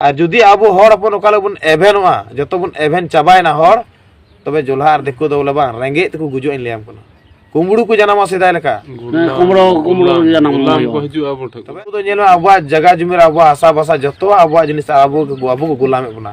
ᱟᱨ ᱡᱩᱫᱤ ᱟᱵᱚ ᱦᱚᱲ ᱦᱚᱯᱚᱱ ᱚᱠᱟ ᱞᱮᱠᱟ ᱵᱚᱱ ᱮᱵᱷᱮᱱᱚᱜᱼᱟ ᱡᱚᱛᱚ ᱵᱚᱱ ᱮᱵᱷᱮᱱ ᱪᱟᱵᱟᱭᱮᱱᱟ ᱦᱚᱲ ᱛᱚᱵᱮ ᱡᱚᱞᱦᱟ ᱟᱨ ᱫᱤᱠᱩ ᱫᱚ ᱵᱚᱞᱮ ᱵᱟᱝ ᱨᱮᱸᱜᱮᱡ ᱛᱮᱠᱚ ᱜᱩᱡᱩᱜᱼᱟ ᱤᱧ ᱞᱟᱹᱭᱟᱢ ᱠᱟᱱᱟ ᱠᱩᱢᱵᱲᱩ ᱠᱚ ᱡᱟᱱᱟᱢᱚᱜᱼᱟ ᱥᱮᱫᱟᱭ ᱞᱮᱠᱟ ᱠᱩᱢᱲᱩ ᱠᱩᱢᱲᱩ ᱡᱟᱱᱟᱢ ᱦᱩᱭᱩᱜᱼᱟ ᱛᱚᱵᱮ ᱫᱚ ᱧᱮᱞᱚᱜᱼᱟ ᱟᱵᱚᱣᱟᱜ ᱡᱟᱭᱜᱟ ᱡᱩᱢᱤ ᱨᱮ ᱟᱵᱚᱣᱟᱜ ᱦᱟᱥᱟ ᱵᱷᱟᱥᱟ ᱡᱚᱛᱚᱣᱟᱜ ᱟᱵᱚᱣᱟᱜ ᱡᱤᱱᱤᱥ ᱟᱵᱚ ᱟᱵᱚ ᱠᱚ ᱜᱩᱞᱟᱢᱮᱫ ᱵᱚᱱᱟ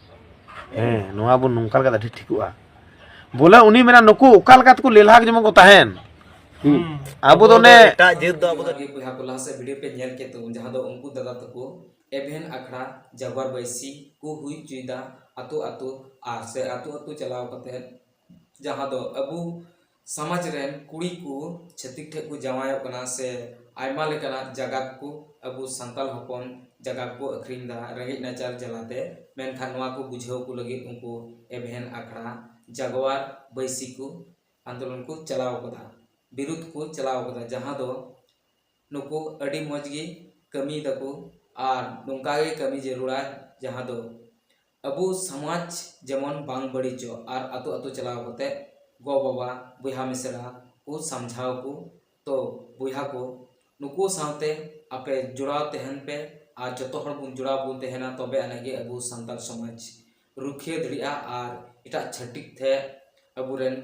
ᱦᱮᱸ ᱱᱚᱣᱟ ᱵᱚᱱ ᱱᱚᱝᱠᱟ ᱞᱮᱠᱟ ᱟᱹᱰᱤ ᱴᱷᱤᱠᱚᱜᱼᱟ ᱵᱚᱞᱮ ᱩᱱᱤ ᱢᱮᱱᱟ ᱱᱩᱠᱩ ᱚᱠᱟ ᱞᱮᱠᱟ ᱛᱮᱠᱚ ᱞᱮᱞᱦᱟ ᱡᱮᱢᱚᱱ ᱠᱚ ᱛᱟᱦᱮᱱ ᱟᱵᱚ ᱫᱚ ᱚᱱᱮ ᱮᱴᱟᱜ ᱡᱟᱹᱛ ᱫᱚ ᱟᱵᱚ ᱫᱚ ᱟᱹᱰᱤ ᱵᱚᱭᱦᱟ ᱠᱚ ᱞᱟᱦᱟ ᱥᱮᱫ ᱵᱷᱤᱰᱤᱭᱳ ᱯᱮ ᱧᱮᱞ ᱠᱮᱫ ᱛᱟᱵᱚᱱ ᱡᱟᱦᱟᱸ ᱫᱚ ᱩᱱᱠᱩ ᱫᱟᱫᱟ ᱛᱟᱠᱚ ᱮᱵᱷᱮᱱ ᱟᱠᱷᱲᱟ ᱡᱟᱜᱣᱟᱨ ᱵᱟᱹᱭᱥᱤ ᱠᱚ ᱦᱩᱭ ᱦᱚᱪᱚᱭᱮᱫᱟ ᱟᱛᱳ ᱟᱛᱳ ᱟᱨ ᱥᱮ ᱟᱛᱳ ᱟᱛᱳ ᱪᱟᱞᱟᱣ ᱠᱟᱛᱮ ᱡᱟᱦᱟᱸ ᱫᱚ ᱟᱵᱚ ᱥᱟᱢᱟᱡᱽ ᱨᱮᱱ ᱠᱩᱲᱤ ᱠᱚ ᱪᱷᱟᱹᱛᱤᱠ ᱴᱷᱮᱱ ᱠᱚ ᱡᱟᱶᱟᱭᱚᱜ ᱠᱟᱱᱟ ᱥᱮ ᱟᱭᱢᱟ ᱞᱮᱠᱟᱱᱟᱜ ᱡᱟᱭᱜᱟ ᱠᱚ ᱟᱵᱚ ᱥᱟᱱᱛᱟᱲ ᱦᱚᱯᱚᱱ ᱡᱟᱭᱜᱟ ᱠᱚ ᱟᱹᱠᱷᱨᱤᱧ ᱮᱫᱟ ᱨᱮᱸᱜᱮᱡ ᱱᱟᱪᱟᱨ ᱡᱟᱞᱟᱛᱮ ᱢᱮᱱᱠᱷᱟᱱ ᱱᱚᱣᱟ ᱠᱚ ᱵᱩᱡᱷᱟᱹᱣ ᱠᱚ ᱞᱟᱹᱜᱤᱫ ᱩᱱᱠᱩ ᱮᱵᱷᱮᱱ ᱟᱠᱷᱲᱟ ᱡᱟᱜᱽᱣᱟᱨ ᱵᱟᱹᱭᱥᱤ ᱠᱚ ᱟᱱᱫᱳᱞᱚᱱ ᱠᱚ ᱪᱟᱞᱟᱣ ᱟᱠᱟᱫᱟ ᱵᱤᱨᱩᱫᱷ ᱠᱚ ᱪᱟᱞᱟᱣ ᱟᱠᱟᱫᱟ ᱡᱟᱦᱟᱸ ᱫᱚ ᱱᱩᱠᱩ ᱟᱹᱰᱤ ᱢᱚᱡᱽ ᱜᱮ ᱠᱟᱹᱢᱤᱭᱮᱫᱟ ᱠᱚ ᱟᱨ ᱱᱚᱝᱠᱟ ᱜᱮ ᱠᱟᱹᱢᱤ ᱡᱟᱹᱨᱩᱲᱟ ᱡᱟᱦᱟᱸ ᱫᱚ ᱟᱵᱚ ᱥᱚᱢᱟᱡᱽ ᱡᱮᱢᱚᱱ ᱵᱟᱝ ᱵᱟᱹᱲᱤᱡᱚᱜ ᱟᱨ ᱟᱹᱛᱩ ᱟᱹᱛᱩ ᱪᱟᱞᱟᱣ ᱠᱟᱛᱮ ᱜᱚ ᱵᱟᱵᱟ ᱵᱚᱭᱦᱟ ᱢᱤᱥᱨᱟ ᱠᱚ ᱥᱟᱢᱡᱷᱟᱣ ᱠᱚ ᱛᱚ ᱵᱚᱭᱦᱟ ᱠᱚ ᱱᱩᱠᱩ ᱥᱟᱶᱛᱮ ᱟᱯᱮ ᱡᱚᱲᱟᱣ ᱛᱟᱦᱮᱱ ᱯᱮ ᱟᱨ ᱡᱚᱛᱚ ᱦᱚᱲ ᱵᱚᱱ ᱡᱚᱲᱟᱣ ᱵᱚᱱ ᱛᱟᱦᱮᱱᱟ ᱛᱚᱵᱮ ᱟᱹᱱᱤᱡ ᱜᱮ ᱟᱵᱚ ᱥᱟᱱᱛᱟᱲ ᱥᱚᱢᱟᱡᱽ ᱨᱩᱠᱷᱤᱭᱟᱹ ᱫᱟᱲᱮᱭᱟᱜᱼᱟ ᱟᱨ ᱮᱴᱟᱜ ᱪᱷᱟᱹᱛᱤᱠ ᱴᱷᱮᱱ ᱟᱵᱚ ᱨᱮᱱ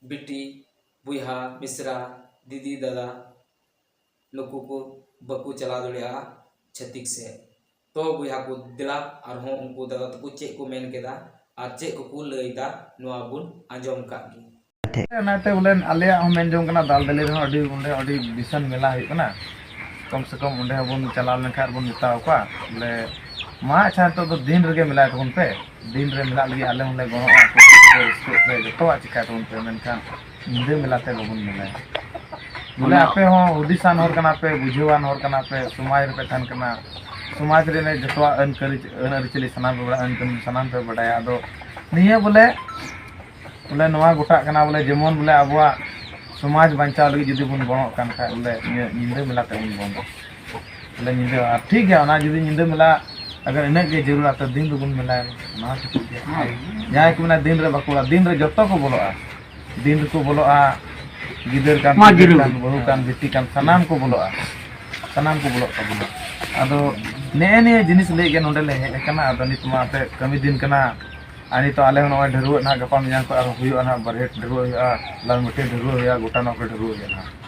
ᱵᱤᱴᱤ ᱵᱚᱭᱦᱟ ᱢᱤᱥᱨᱟ ᱫᱤᱫᱤ ᱫᱟᱫᱟ ᱱᱩᱠᱩ ᱠᱚ ᱵᱟᱠᱚ ᱪᱟᱞᱟᱣ ᱫᱟᱲᱮᱭᱟᱜᱼᱟ ᱪᱷᱟᱹᱛᱤᱠ ᱥᱮᱫ ᱛᱚ ᱵᱚᱭᱦᱟ ᱠᱚ ᱫᱮᱞᱟ ᱟᱨᱦᱚᱸ ᱩᱱᱠᱩ ᱫᱟᱫᱟ ᱛᱟᱠᱚ ᱪᱮᱫ ᱠᱚ ᱢᱮᱱ ᱠᱮᱫᱟ ᱟᱨ ᱪᱮᱫ ᱠᱚᱠᱚ ᱞᱟᱹᱭᱫᱟ ᱱᱚᱣᱟ ᱵᱚᱱ ᱟᱸᱡᱚᱢ ᱠᱟᱜ ᱜᱮ ᱚᱱᱟᱛᱮ ᱵᱚᱞᱮ ᱟᱞᱮᱭᱟᱜ ᱦᱚᱸ ᱢᱮᱱ ᱡᱚᱝ ᱠᱟᱱᱟ ᱫᱟᱞ ᱫᱟᱞᱤ ᱨᱮᱦᱚᱸ ᱟᱹᱰᱤ ᱚᱸᱰᱮ ᱟᱹᱰᱤ ᱵᱤᱥᱟᱞ ᱢᱮᱞᱟ ᱦᱩᱭᱩᱜ ᱠᱟᱱᱟ ᱠᱚᱢ ᱥᱮ ᱠᱚᱢ ᱚᱸᱰᱮ ᱦᱚᱸᱵᱚᱱ ᱪᱟᱞᱟᱣ ᱞᱮᱱᱠᱷᱟᱱ ᱵᱚᱱ ᱢᱮᱛᱟ ᱠᱚᱣᱟ ᱵᱚᱞᱮ ᱢᱟ ᱟᱪᱪᱷᱟ ᱱᱤᱛᱚᱜ ᱫᱚ ᱫᱤᱱ ᱨᱮᱜᱮ ᱢᱮᱞᱟᱭ ᱛᱟᱵᱚᱱ ᱯᱮ ᱫᱤᱱ ᱨᱮ ᱢᱮᱞᱟᱜ ᱞᱟᱹᱜᱤᱫ ᱟᱞᱮ ᱦᱚᱸᱞᱮ ᱜᱚᱲᱚᱜᱼᱟ ᱡᱚᱛᱚᱣᱟᱜ ᱪᱤᱠᱟᱹᱭ ᱛᱟᱵᱚᱱ ᱯᱮ ᱢᱮᱱᱠᱷᱟᱱ ᱧᱤᱫᱟᱹ ᱢᱮᱞᱟ ᱛᱮ ᱵᱟᱵᱚᱱ ᱢᱮᱞᱟᱭᱟ ᱵᱚᱞᱮ ᱟᱯᱮ ᱦᱚᱸ ᱦᱩᱫᱤᱥᱟᱱ ᱦᱚᱲ ᱠᱟᱱᱟ ᱯᱮ ᱵᱩᱡᱷᱟᱹᱣᱟᱱ ᱦᱚᱲ ᱠᱟᱱᱟ ᱯᱮ ᱥᱚᱢᱟᱡᱽ ᱨᱮᱯᱮ ᱛᱟᱦᱮᱱ ᱠᱟᱱᱟ ᱥᱚᱢᱟᱡᱽ ᱨᱮᱱᱟᱜ ᱡᱚᱛᱚᱣᱟᱜ ᱟᱹᱱ ᱠᱟᱹᱨᱤ ᱟᱹᱱ ᱟᱹᱨᱤᱪᱟᱹᱞᱤ ᱥᱟᱱᱟᱢ ᱯᱮ ᱵᱟᱲᱟᱭᱟ ᱟᱹᱱ ᱠᱟᱹᱱᱩᱱ ᱥᱟᱱᱟᱢ ᱯᱮ ᱵᱟᱰᱟᱭᱟ ᱟᱫᱚ ᱱᱤᱭᱟᱹ ᱵᱚᱞᱮ ᱵᱚᱞᱮ ᱱᱚᱣᱟ ᱜᱚᱴᱟᱜ ᱠᱟᱱᱟ ᱵᱚᱞᱮ ᱡᱮᱢᱚᱱ ᱵᱚᱞᱮ ᱟᱵᱚᱣᱟᱜ ᱥᱚᱢᱟᱡᱽ ᱵᱟᱧᱪᱟᱣ ᱞᱟᱹᱜᱤᱫ ᱡᱩᱫᱤ ᱵᱚᱱ ᱜᱚᱲᱚᱜ ᱠᱟᱱ ᱠᱷᱟᱡ ᱵᱚᱞᱮ ᱱᱤᱭᱟᱹ ᱧᱤᱫᱟᱹ ᱢᱮᱞᱟ ᱛᱮᱵᱚᱱ ᱵᱚᱱᱫᱚᱭᱟ ᱟᱞᱮ ᱧᱤᱫᱟᱹ ᱟᱨ ᱴᱷᱤᱠ ᱜᱮᱭᱟ ᱚᱱᱟ ᱡᱩᱫᱤ ᱧᱤᱫᱟᱹ ᱢᱮᱞᱟ ᱟᱜᱟᱨ ᱤᱱᱟᱹᱜ ᱜᱮ ᱡᱟᱹᱨᱩᱲᱟ ᱛᱚ ᱫᱤᱱ ᱫᱚᱵᱚᱱ ᱢᱮᱞᱟᱭᱟ ᱚᱱᱟ ᱦᱚᱸ ᱴᱷᱤᱠ ᱜᱮᱭᱟ ᱟᱨ ᱡᱟᱦᱟᱸᱭ ᱠᱚ ᱢᱮᱱᱟ ᱫᱤᱱ ᱨᱮ ᱵᱟᱠᱚ ᱵᱚᱞᱚᱜᱼᱟ ᱫᱤᱱ ᱨᱮ ᱡᱚᱛᱚ ᱠᱚ ᱵᱚᱞᱚᱜᱼᱟ ᱫᱤᱱ ᱨᱮᱠᱚ ᱵᱚᱞᱚᱜᱼᱟ ᱜᱤᱫᱟᱹᱨ ᱠᱟᱱ ᱢᱟ ᱯᱤᱫᱟᱹᱨ ᱡᱤᱨᱟᱹᱣ ᱠᱟᱱ ᱵᱤᱱ᱾ ᱵᱟᱹᱦᱩ ᱠᱟᱱ ᱵᱤᱴᱤ ᱠᱟᱱ ᱥᱟᱱᱟᱢ ᱠᱚ ᱵᱚᱞᱚᱜᱼᱟ ᱥᱟᱱᱟᱢ ᱠᱚ ᱵᱚᱞᱚᱜ ᱛᱟᱵᱚᱱᱟ ᱟᱫᱚ ᱱᱮᱜᱼᱮ ᱱᱤᱭᱟᱹ ᱡᱤᱱᱤᱥ ᱞᱟᱹᱭ ᱜᱮ ᱱᱚᱰᱮ ᱞᱮ ᱦᱮᱡ ᱟᱠᱟᱱᱟ ᱟᱫᱚ ᱱᱤᱛ ᱢᱟ ᱟᱯᱮ ᱠᱟᱹᱢᱤ ᱫᱤᱱ ᱠᱟᱱᱟ ᱟᱨ ᱱᱤᱛᱚᱜ ᱟᱞᱮ ᱦᱚᱸ ᱱᱚᱜᱼᱚᱭ ᱰᱷᱟᱹᱨᱣᱟᱹᱜ ᱱᱟᱦᱟᱜ ᱜᱟᱯᱟ ᱢᱮᱭᱟᱝ ᱠᱷᱚᱱ ᱟᱨᱦᱚᱸ ᱦᱩᱭᱩᱜᱼᱟ ᱱᱟᱦᱟᱜ ᱵᱟᱨᱦᱮᱴ ᱰᱷᱟᱹᱨᱣᱟᱹᱜ ᱦᱩᱭᱩᱜᱼᱟ ᱞᱟᱞᱢᱟᱹᱴᱤ ᱰᱷᱟᱹᱨᱣᱟᱹᱜ ᱦᱩᱭᱩᱜᱼᱟ ᱜᱚᱴᱟ ᱱᱚᱣᱟ ᱠᱚᱨᱮ ᱰᱷᱟᱹᱨᱣᱟᱹᱜ ᱦᱩᱭᱩᱜᱼᱟ ᱱᱟᱦᱟᱜ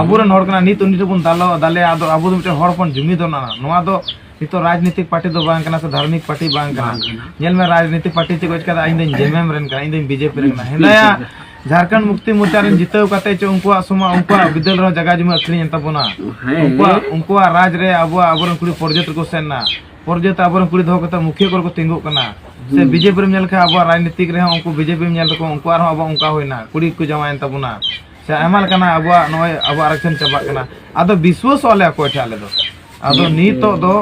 ᱟᱵᱚᱨᱮᱱ ᱦᱚᱲ ᱠᱟᱱᱟ ᱱᱤᱛ ᱩᱱᱤ ᱴᱷᱮᱱ ᱵᱚᱱ ᱫᱟᱞᱚ ᱫᱟᱞᱮ ᱟᱫᱚ ᱟᱵᱚ ᱫᱚ ᱢᱤᱫᱴᱮᱱ ᱦᱚᱲ ᱦᱚᱯᱚᱱ ᱡᱩᱢᱤ ᱫᱚ ᱱᱚᱣᱟ ᱫᱚ ᱱᱤᱛᱚᱜ ᱨᱟᱡᱽᱱᱤᱛᱤᱠ ᱯᱟᱨᱴᱤ ᱫᱚ ᱵᱟᱝ ᱠᱟᱱᱟ ᱥᱮ ᱫᱷᱟᱨᱢᱤᱠ ᱯᱟᱨᱴᱤ ᱵᱟᱝ ᱠᱟᱱᱟ ᱧᱮᱞ ᱢᱮ ᱨᱟᱡᱽᱱᱤᱛᱤᱠ ᱯᱟᱨᱴᱤ ᱪᱮᱫ ᱚᱪ ᱠᱟᱫᱟ ᱤᱧ ᱫᱚᱧ ᱡᱮᱢᱮᱢ ᱨᱮᱱ ᱠᱟᱱᱟ ᱤᱧ ᱫᱚᱧ ᱵᱤᱡᱮᱯᱤ ᱨᱮᱱ ᱠᱟᱱᱟ ᱦᱮᱸᱫᱟᱭᱟ ᱡᱷᱟᱨᱠᱷᱚᱸᱰ ᱢᱩᱠᱛᱤ ᱢᱳᱨᱪᱟ ᱨᱮᱱ ᱡᱤᱛᱟᱹᱣ ᱠᱟᱛᱮ ᱪᱚ ᱩᱱᱠᱩᱣᱟᱜ ᱥᱚᱢᱟ ᱩᱱᱠᱩᱣᱟᱜ ᱵᱤᱫᱟᱹᱞ ᱨᱮᱦᱚᱸ ᱡᱟᱭᱜᱟ ᱡᱩᱢᱤ ᱟᱹᱠᱷᱨᱤᱧ ᱮᱱ ᱛᱟᱵᱚᱱᱟ ᱩᱱᱠᱩᱣᱟᱜ ᱩᱱᱠᱩᱣᱟᱜ ᱨᱟᱡᱽ ᱨᱮ ᱟᱵᱚᱣᱟᱜ ᱟᱵᱚᱨᱮᱱ ᱠᱩᱲᱤ ᱯᱚᱨᱡᱚᱛ ᱨᱮᱠᱚ ᱥᱮᱱ ᱮᱱᱟ ᱯᱚᱨᱡᱚᱛ ᱟᱵᱚᱨᱮᱱ ᱠᱩᱲᱤ ᱫᱚᱦᱚ ᱠᱟᱛᱮ ᱢᱩᱠᱷᱤᱭᱟᱹ ᱠᱚᱨᱮ ᱠᱚ ᱛᱤᱸᱜᱩᱜ ᱠᱟᱱᱟ ᱥᱮ ᱵᱤᱡᱮᱯᱤ ᱨᱮᱢ ᱧᱮᱞ ᱠᱷᱟᱱ ᱟᱵᱚᱣᱟᱜ ᱨᱟᱡᱽᱱᱤᱛᱤᱠ ᱨᱮᱦᱚᱸ ᱩᱱᱠᱩ ᱵᱤᱡᱮᱯᱤ ᱧᱮᱞ ᱛᱟᱠᱚ ᱩᱱᱠᱩᱣᱟᱜ ᱨᱮᱦᱚᱸ ᱟᱵᱚ ᱚᱱᱠᱟ ᱦᱩᱭᱱᱟ ᱠᱩᱲᱤ ᱠᱚ ᱡᱟᱶᱟᱭᱮᱱ ᱛᱟᱵᱚᱱᱟ ᱥᱮ ᱟᱭᱢᱟ ᱞᱮᱠᱟᱱᱟᱜ ᱟᱵᱚᱣᱟᱜ ᱱᱚᱜᱼᱚᱭ ᱟᱵᱚᱣᱟᱜ ᱟᱨᱟᱠᱥᱚᱱ ᱪᱟᱵᱟᱜ ᱠᱟᱱᱟ ᱟᱫᱚ ᱵᱤᱥᱣᱟᱥᱚᱜ ᱟᱞᱮ ᱚᱠᱚᱭ ᱴᱷᱮᱱ ᱟᱞᱮ ᱫᱚ ᱟᱫᱚ ᱱᱤᱛᱚᱜ ᱫᱚ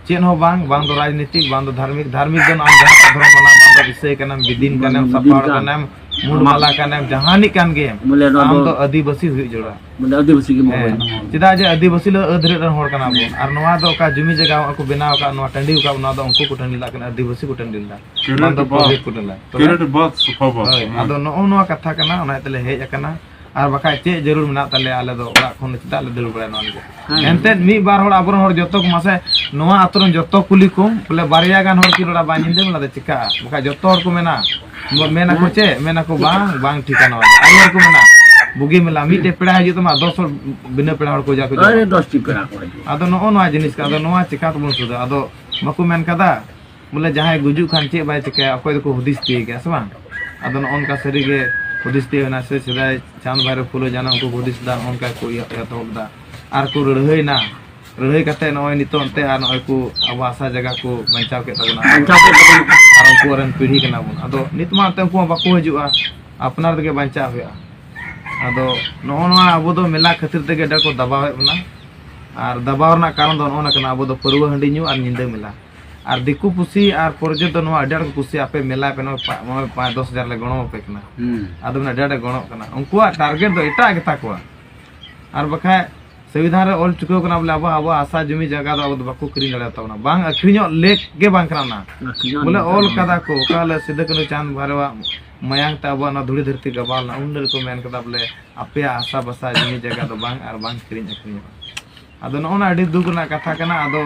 ᱪᱮᱫ ᱦᱚᱸ ᱵᱟᱝ ᱵᱟᱝ ᱫᱚ ᱨᱟᱡᱽᱱᱤᱛᱤᱠ ᱵᱟᱝ ᱫᱚ ᱫᱷᱟᱨᱢᱤᱠ ᱫᱷᱟᱨᱢᱤᱠ ᱫᱚ ᱱᱚᱜᱼᱚᱭ ᱡᱟᱦᱟᱸ ᱫᱷᱚᱨᱚᱢ ᱢᱟᱱᱟᱣ ᱵᱟᱝ ᱫᱚ ᱤᱥᱟᱹᱭ ᱠᱟᱱᱟᱢ ᱵᱤᱫᱤᱱ ᱠᱟᱱᱟᱢ ᱥᱟᱯᱟᱲ ᱠᱟᱱᱟᱢ ᱢᱩᱲ ᱢᱟᱞᱟ ᱠᱟᱱᱟᱢ ᱡᱟᱦᱟᱱᱤᱡ ᱠᱟᱱ ᱜᱮ ᱵᱚᱞᱮ ᱱᱚᱣᱟ ᱟᱢ ᱫᱚ ᱫᱚ ᱟᱹᱫᱤᱵᱟᱹᱥᱤ ᱦᱩᱭᱩᱜ ᱡᱚᱲᱟ ᱵᱚᱞᱮ ᱟᱹᱫᱤᱵᱟᱹᱥᱤ ᱜᱮ ᱢᱚᱦᱚᱭ ᱪᱮᱫᱟᱜ ᱡᱮ ᱟᱹᱫᱤᱵᱟᱹᱥᱤ ᱞᱮ ᱟᱹᱫᱷᱨᱮ ᱨᱮᱱ ᱦᱚᱲ ᱠᱟᱱᱟ ᱵᱚᱱ ᱟᱨ ᱱᱚᱣᱟ ᱫᱚ ᱚᱠᱟ ᱡᱩᱢᱤ ᱡᱟᱭᱜᱟ ᱠᱚ ᱵᱮᱱᱟᱣ ᱟᱠᱟᱫ ᱱᱚᱣᱟ ᱴᱟᱺᱰᱤ ᱟᱠᱟᱫ ᱱᱚᱣᱟ ᱫᱚ ᱩᱱᱠᱩ ᱠᱚ ᱴᱟᱺᱰᱤ ᱞᱮᱫᱟ ᱠᱟᱱᱟ ᱟᱹᱫᱤᱵᱟᱹᱥᱤ ᱠᱚ ᱴᱟᱺᱰᱤ ᱞᱮᱫᱟ ᱚᱱᱟ ᱫᱚ ᱵᱟᱫ ᱯᱚᱨᱦᱤ ᱠᱩᱰᱟᱹᱞᱟ ᱛᱚᱵᱮ ᱯᱤᱨᱤᱭᱚᱰ ᱵᱟᱫ ᱥᱚᱯᱷᱟ ᱵᱟᱫ ᱦᱳᱭ ᱟᱫᱚ ᱱᱚᱜᱼᱚ ᱱᱚᱣᱟ ᱠᱟᱛᱷᱟ ᱠᱟᱱᱟ ᱚᱱᱟ ᱛᱮᱞᱮ ᱦᱮᱡ ᱟᱠᱟᱱᱟ ᱟᱨ ᱵᱟᱠᱷᱟᱡ ᱪᱮᱫ ᱡᱟᱹᱨᱩᱲ ᱢᱮᱱᱟᱜ ᱛᱟᱞᱮᱭᱟ ᱟᱞᱮ ᱫᱚ ᱚᱲᱟᱜ ᱠᱷᱚᱱ ᱫᱚ ᱪᱮᱫᱟᱜ ᱞᱮ ᱫᱟᱹᱲ ᱵᱟᱲᱟᱭᱟ ᱱᱚᱣᱟ ᱞᱟᱹᱜᱤᱫ ᱮᱱᱛᱮ ᱢᱤᱫ ᱵᱟᱨ ᱦᱚᱲ ᱟᱵᱚᱨᱮᱱ ᱦᱚᱲ ᱡᱚᱛᱚ ᱠᱚ ᱢᱟᱥᱮ ᱱᱚᱣᱟ ᱟᱛᱳ ᱨᱮᱱ ᱡᱚᱛᱚ ᱠᱩᱞᱤ ᱠᱚ ᱵᱚᱞᱮ ᱵᱟᱨᱭᱟ ᱜᱟᱱ ᱦᱚᱲ ᱠᱤ ᱨᱚᱲᱟ ᱵᱟᱝ ᱧᱤᱫᱟᱹ ᱵᱮᱞᱟ ᱫᱚ ᱪᱤᱠᱟᱜᱼᱟ ᱵᱟᱠᱷᱟᱡ ᱡᱚᱛᱚ ᱦᱚᱲ ᱠᱚ ᱢᱮᱱᱟ ᱵᱚ- ᱢᱮᱱᱟᱠᱚ ᱪᱮᱫ ᱢᱮᱱᱟᱠᱚ ᱵᱟᱝ ᱵᱟᱝ ᱴᱷᱤᱠᱟ ᱱᱚᱣᱟ ᱫᱚ᱾ ᱟᱭᱢᱟ ᱦᱚᱲ ᱠᱚ ᱢᱮᱱᱟ ᱵᱩᱜᱤ ᱢᱮᱞᱟ ᱢᱤᱫᱴᱮᱡ ᱯᱮᱲᱟ ᱦᱤᱡᱩᱜ ᱛᱟᱢᱟ ᱫᱚᱥ ᱦᱚᱲ ᱵᱤᱱᱟᱹ ᱯᱮᱲᱟ ᱦᱚᱲ ᱠᱚ ᱡᱟ ᱠᱚ ᱡᱚᱢᱟ᱾ ᱟᱨᱮ ᱫᱚᱥᱴᱤ ᱯᱮᱲᱟ ᱠᱚ ᱦᱤᱡᱩᱜᱼᱟ ᱟᱫᱚ ᱱᱚᱜᱼᱚ ᱱᱚᱣᱟ ᱡᱤᱱᱤᱥ ᱠᱟᱱᱟ ᱟᱫᱚ ᱱᱚᱣᱟ ᱪᱤᱠᱟ ᱛᱮᱵᱚᱱ ᱥᱩᱫᱷᱟ ᱟᱫᱚ ᱵᱟᱠᱚ ᱢᱮᱱ ᱠᱟᱫᱟ ᱵᱚᱞᱮ ᱡᱟᱦᱟᱸᱭ ᱜᱩᱡᱩᱜ ᱠᱷᱟᱱ ᱪᱮᱫ ᱵᱟᱭ ᱪᱤᱠᱟᱹᱭᱟ ᱚᱠᱚᱭ ᱫᱚᱠᱚ ᱦᱩᱫᱤᱥ ᱛᱤᱭ ᱜᱮᱭᱟ ᱥᱮ ᱵᱟᱝ ᱟᱫᱚ ᱱᱚᱜᱼᱚ ᱱᱚᱝᱠᱟ ᱥᱟᱹᱨᱤᱜᱮ ᱦᱩᱫᱤᱥ ᱛᱤᱭ ᱦᱩᱭᱱᱟ ᱥᱮ ᱥᱮᱫᱟᱭ ᱪᱟᱸᱫᱽ ᱵᱷᱟᱭᱨᱚ ᱯᱷᱩᱞᱳ ᱡᱟᱱᱟ ᱩᱱᱠᱩ ᱦᱩᱫᱤᱥ ᱫᱟ ᱚᱱᱠᱟ ᱠᱚ ᱮᱛᱚᱦᱚᱵ ᱫᱟ ᱟᱨ ᱠᱚ ᱞᱟᱹᱲᱦᱟᱹᱭᱱᱟ ᱞᱟᱹᱲᱦᱟᱹᱭ ᱠᱟᱛᱮ ᱱᱚᱜᱼᱚᱭ ᱱᱤᱛᱚᱜ ᱮᱱᱛᱮ ᱟᱨ ᱱᱚᱜᱼᱚᱭ ᱠᱚ ᱟᱵᱚ ᱦᱟᱥᱟ ᱡᱟᱭᱜᱟ ᱠᱚ ᱵᱟᱧᱪᱟᱣ ᱠᱮᱫ ᱛᱟᱵᱚᱱᱟ ᱟᱨ ᱩᱱᱠᱩ ᱨᱮᱱ ᱯᱤᱲᱦᱤ ᱠᱟᱱᱟ ᱵᱚᱱ ᱟᱫᱚ ᱱᱤᱛ ᱢᱟ ᱮᱱᱛᱮ ᱩᱱᱠᱩ ᱢᱟ ᱵᱟᱠᱚ ᱦᱤᱡᱩᱜᱼᱟ ᱟᱯᱱᱟᱨ ᱛᱮᱜᱮ ᱵᱟᱧᱪᱟᱣ ᱦᱩᱭᱩᱜᱼᱟ ᱟᱫᱚ ᱱᱚᱜᱼᱚ ᱱᱚᱣᱟ ᱟᱵᱚ ᱫᱚ ᱢᱮᱞᱟ ᱠᱷᱟᱹᱛᱤᱨ ᱛᱮᱜᱮ ᱟᱹᱰᱤ ᱠᱚ ᱫᱟᱵᱟᱣᱮᱫ ᱵᱚᱱᱟ ᱟᱨ ᱫᱟᱵᱟᱣ ᱨᱮᱱᱟᱜ ᱠᱟᱨᱚᱱ ᱫᱚ ᱱᱚᱜᱼᱚ ᱱᱚᱣᱟ ᱠᱟᱱᱟ ᱟᱵᱚ ᱫᱚ ᱯᱟᱹᱨᱣᱟᱹ ᱦᱟᱺᱰᱤ ᱧᱩ ᱟᱨ ᱧᱤᱫᱟᱹ ᱢᱮᱞᱟ ᱟᱨ ᱫᱤᱠᱩ ᱯᱩᱥᱤ ᱟᱨ ᱯᱚᱨᱡᱚ ᱫᱚ ᱱᱚᱣᱟ ᱟᱹᱰᱤ ᱟᱸᱴ ᱠᱚ ᱠᱩᱥᱤᱭᱟᱜᱼᱟ ᱟᱯᱮ ᱢᱮᱞᱟ ᱯᱮ ᱱᱚᱣᱟ ᱯᱟ- ᱱᱚᱣᱟ ᱯᱟᱸᱪ ᱫᱚᱥ ᱦᱟᱡᱟᱨ ᱞᱮ ᱜᱚᱲᱚ ᱟᱯᱮ ᱠᱟᱱᱟ ᱟᱫᱚ ᱢᱮᱱᱟ ᱟᱹᱰᱤ ᱟᱸᱴᱮ ᱜᱚᱲᱚᱜ ᱠᱟᱱᱟ ᱩᱱᱠᱩᱣᱟᱜ ᱴᱟᱨᱜᱮᱴ ᱫᱚ ᱮᱴᱟᱜ ᱜᱮᱛᱟ ᱠᱚᱣᱟ ᱟᱨ ᱵᱟᱠᱷᱟᱡ ᱥᱚᱝᱵᱤᱫᱷᱟᱱ ᱨᱮ ᱚᱞ ᱪᱩᱠᱟᱹᱣ ᱠᱟᱱᱟ ᱵᱚᱞᱮ ᱟᱵᱚᱣᱟᱜ ᱟᱵᱚᱣᱟᱜ ᱦᱟᱥᱟ ᱡᱩᱢᱤ ᱡᱟᱭᱜᱟ ᱫᱚ ᱟᱵᱚ ᱫᱚ ᱵᱟᱠᱚ ᱠᱤᱨᱤᱧ ᱫᱟᱲᱮᱭᱟ ᱛᱟᱵᱚᱱᱟ ᱵᱟᱝ ᱟᱹᱠᱷᱨᱤᱧᱚᱜ ᱞᱮᱠ ᱜᱮ ᱵᱟᱝ ᱠᱟᱱᱟ ᱚᱱᱟ ᱵᱚᱞᱮ ᱚᱞ ᱠᱟᱫᱟ ᱠᱚ ᱚᱠᱟ ᱦᱤᱞᱳᱜ ᱥᱤᱫᱩ ᱠᱟᱹᱱᱦᱩ ᱪᱟᱸᱫ ᱵᱷᱟᱭᱨᱚᱣᱟᱜ ᱢᱟᱭᱟᱝ ᱛᱮ ᱟᱵᱚᱣᱟᱜ ᱱᱚᱣᱟ ᱫᱷᱩᱲᱤ ᱫᱷᱟᱹᱨᱛᱤ ᱜᱟᱵᱟᱣ ᱞᱮᱱᱟ ᱩᱱ ᱦᱤᱞᱳᱜ ᱠᱚ ᱢᱮᱱ ᱠᱟᱫᱟ ᱵᱚᱞᱮ ᱟᱯᱮᱭᱟᱜ ᱦᱟᱥᱟ ᱵᱟᱥᱟ ᱡᱩᱢᱤ ᱡᱟᱭᱜᱟ ᱫᱚ ᱵᱟᱝ ᱟᱨ ᱵᱟᱝ ᱠᱤᱨᱤᱧ ᱟᱹᱠᱷᱨᱤᱧᱚᱜᱼᱟ ᱟᱫᱚ ᱱᱚᱜᱼᱚ ᱱᱟ ᱟᱹᱰᱤ ᱫᱩᱠ ᱨᱮᱱᱟᱜ ᱠᱟᱛᱷᱟ ᱠᱟᱱᱟ ᱟᱫᱚ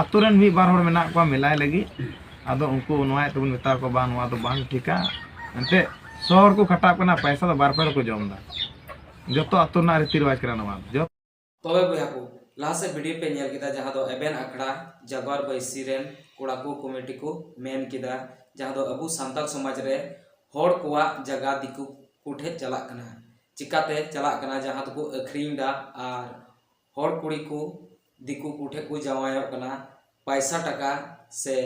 ᱟᱛᱳ ᱨᱮᱱ ᱢᱤᱫ ᱵᱟᱨ ᱦᱚᱲ ᱢᱮᱱᱟᱜ ᱠᱚᱣᱟ ᱢᱮᱞᱟᱭ ᱞᱟᱹᱜᱤᱫ ᱟᱫᱚ ᱩᱱᱠᱩ ᱱᱚᱣᱟᱭ ᱛᱮᱵᱚᱱ ᱢᱮᱛᱟ ᱠᱚᱣᱟ ᱵᱟᱝ ᱱᱚᱣᱟ ᱫᱚ ᱵᱟᱝ ᱴᱷᱤᱠᱟ ᱮᱱᱛᱮᱫ ᱥᱚ ᱦᱚᱲ ᱠᱚ ᱠᱷᱟᱴᱟᱜ ᱠᱟᱱᱟ ᱯᱟᱭᱥᱟ ᱫᱚ ᱵᱟᱨ ᱯᱮ ᱦᱚᱲ ᱠᱚ ᱡᱚᱢ ᱮᱫᱟ ᱡᱚᱛᱚ ᱟᱛᱳ ᱨᱮᱱᱟᱜ ᱨᱤᱛᱤ ᱨᱮᱣᱟᱡᱽ ᱠᱟᱱᱟ ᱱᱚᱣᱟ ᱫᱚ ᱛᱚᱵᱮ ᱵᱚᱭᱦᱟ ᱠᱚ ᱞᱟᱦᱟ ᱥᱮᱫ ᱵᱷᱤᱰᱤᱭᱳ ᱯᱮ ᱧᱮᱞ ᱠᱮᱫᱟ ᱡᱟᱦᱟᱸ ᱫᱚ ᱮᱵᱮᱱ ᱟᱠᱷᱲᱟ ᱡᱟᱜᱣᱟᱨ ᱵᱟᱹᱭᱥᱤ ᱨᱮᱱ ᱠᱚᱲᱟ ᱠᱚ ᱠᱚᱢᱤᱴᱤ ᱠᱚ ᱢᱮᱱ ᱠᱮᱫᱟ ᱡᱟᱦᱟᱸ ᱫᱚ ᱟᱵᱚ ᱥᱟᱱᱛᱟᱲ ᱥᱚᱢᱟᱡᱽ ᱨᱮ ᱦᱚᱲ ᱠᱚᱣᱟᱜ ᱡᱟᱭᱜᱟ ᱫᱤᱠᱩ ᱠᱚ ᱴᱷᱮᱡ ᱪᱟᱞᱟᱜ ᱠᱟᱱᱟ ᱪᱤᱠᱟᱹᱛᱮ ᱪᱟᱞᱟᱜ ᱠᱟᱱᱟ ᱡᱟᱦᱟᱸ ᱫᱚᱠᱚ ᱟᱹᱠᱷᱨᱤᱧ ᱮᱫᱟ ᱟᱨ ᱦᱚᱲ ᱠᱩᱲᱤ ᱠᱚ ᱫᱤᱠᱩ ᱠᱚ ᱴᱷᱮᱱ ᱠᱚ ᱡᱟᱶᱟᱭᱚᱜ ᱠᱟᱱᱟ ᱯᱚᱭᱥᱟ ᱴᱟᱠᱟ ᱥᱮ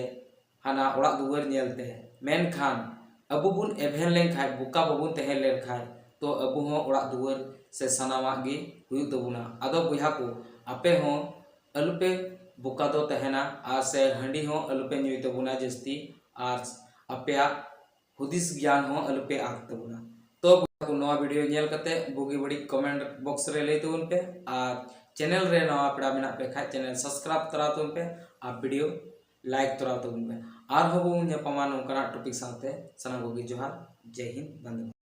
ᱦᱟᱱᱟ ᱚᱲᱟᱜ ᱫᱩᱣᱟᱹᱨ ᱧᱮᱞᱛᱮ ᱢᱮᱱᱠᱷᱟᱱ ᱟᱵᱚ ᱵᱚᱱ ᱮᱵᱷᱮᱱ ᱞᱮᱱᱠᱷᱟᱱ ᱵᱚᱠᱟ ᱵᱟᱵᱚᱱ ᱛᱟᱦᱮᱸ ᱞᱮᱱᱠᱷᱟᱱ ᱛᱚ ᱟᱵᱚ ᱦᱚᱸ ᱚᱲᱟᱜ ᱫᱩᱣᱟᱹᱨ ᱥᱮ ᱥᱟᱱᱟᱢᱟᱜ ᱜᱮ ᱦᱩᱭᱩᱜ ᱛᱟᱵᱚᱱᱟ ᱟᱫᱚ ᱵᱚᱭᱦᱟ ᱠᱚ ᱟᱯᱮ ᱦᱚᱸ ᱟᱞᱚᱯᱮ ᱵᱚᱠᱟ ᱫᱚ ᱛᱟᱦᱮᱱᱟ ᱟᱨ ᱥᱮ ᱦᱟᱺᱰᱤ ᱦᱚᱸ ᱟᱞᱚᱯᱮ ᱧᱩᱭ ᱛᱟᱵᱚᱱᱟ ᱡᱟᱹᱥᱛᱤ ᱟᱨ ᱟᱯᱮᱭᱟᱜ ᱦᱩᱫᱤᱥ ᱜᱮᱭᱟᱱ ᱦᱚᱸ ᱟᱞᱚᱯᱮ ᱟᱸᱠ ᱛᱟᱵᱚᱱᱟ ᱛᱚ ᱵᱚᱭᱦᱟ ᱱᱚᱣᱟ ᱵᱷᱤᱰᱤᱭᱳ ᱧᱮᱞ ᱠᱟᱛᱮ ᱵᱩᱜᱤ ᱵᱟᱹᱲᱤᱡ ᱠᱚᱢᱮᱱᱴ ᱵᱚᱠᱥ ᱨᱮ ᱞᱟᱹᱭ ᱛᱟᱵᱚᱱ ᱯᱮ ᱟᱨ ᱪᱮᱱᱮᱞ ᱨᱮ ᱱᱟᱣᱟ ᱯᱮᱲᱟ ᱢᱮᱱᱟᱜ ᱯᱮ ᱠᱷᱟᱡ ᱪᱮᱱᱮᱞ ᱥᱟᱵᱥᱠᱨᱟᱭᱤᱵ ᱛᱚᱨᱟ ᱛᱟᱵᱚᱱ ᱯᱮ ᱟᱨ ᱵᱷᱤᱰᱤᱭᱳ ᱞᱟᱭᱤᱠ ᱛᱚᱨᱟ ᱛᱟᱵᱚᱱ ᱯᱮ ᱟᱨᱦᱚᱸ ᱵᱚᱱ ᱧᱟᱯᱟᱢᱟ ᱱᱚᱝᱠᱟᱱᱟᱜ ᱴᱚᱯᱤᱠ ᱥᱟᱶᱛᱮ ᱥᱟᱱᱟᱢ ᱠᱚᱜᱮ ᱡᱚᱦᱟᱨ ᱡᱮ ᱦᱤᱱᱫ ᱵᱟᱱᱫᱮ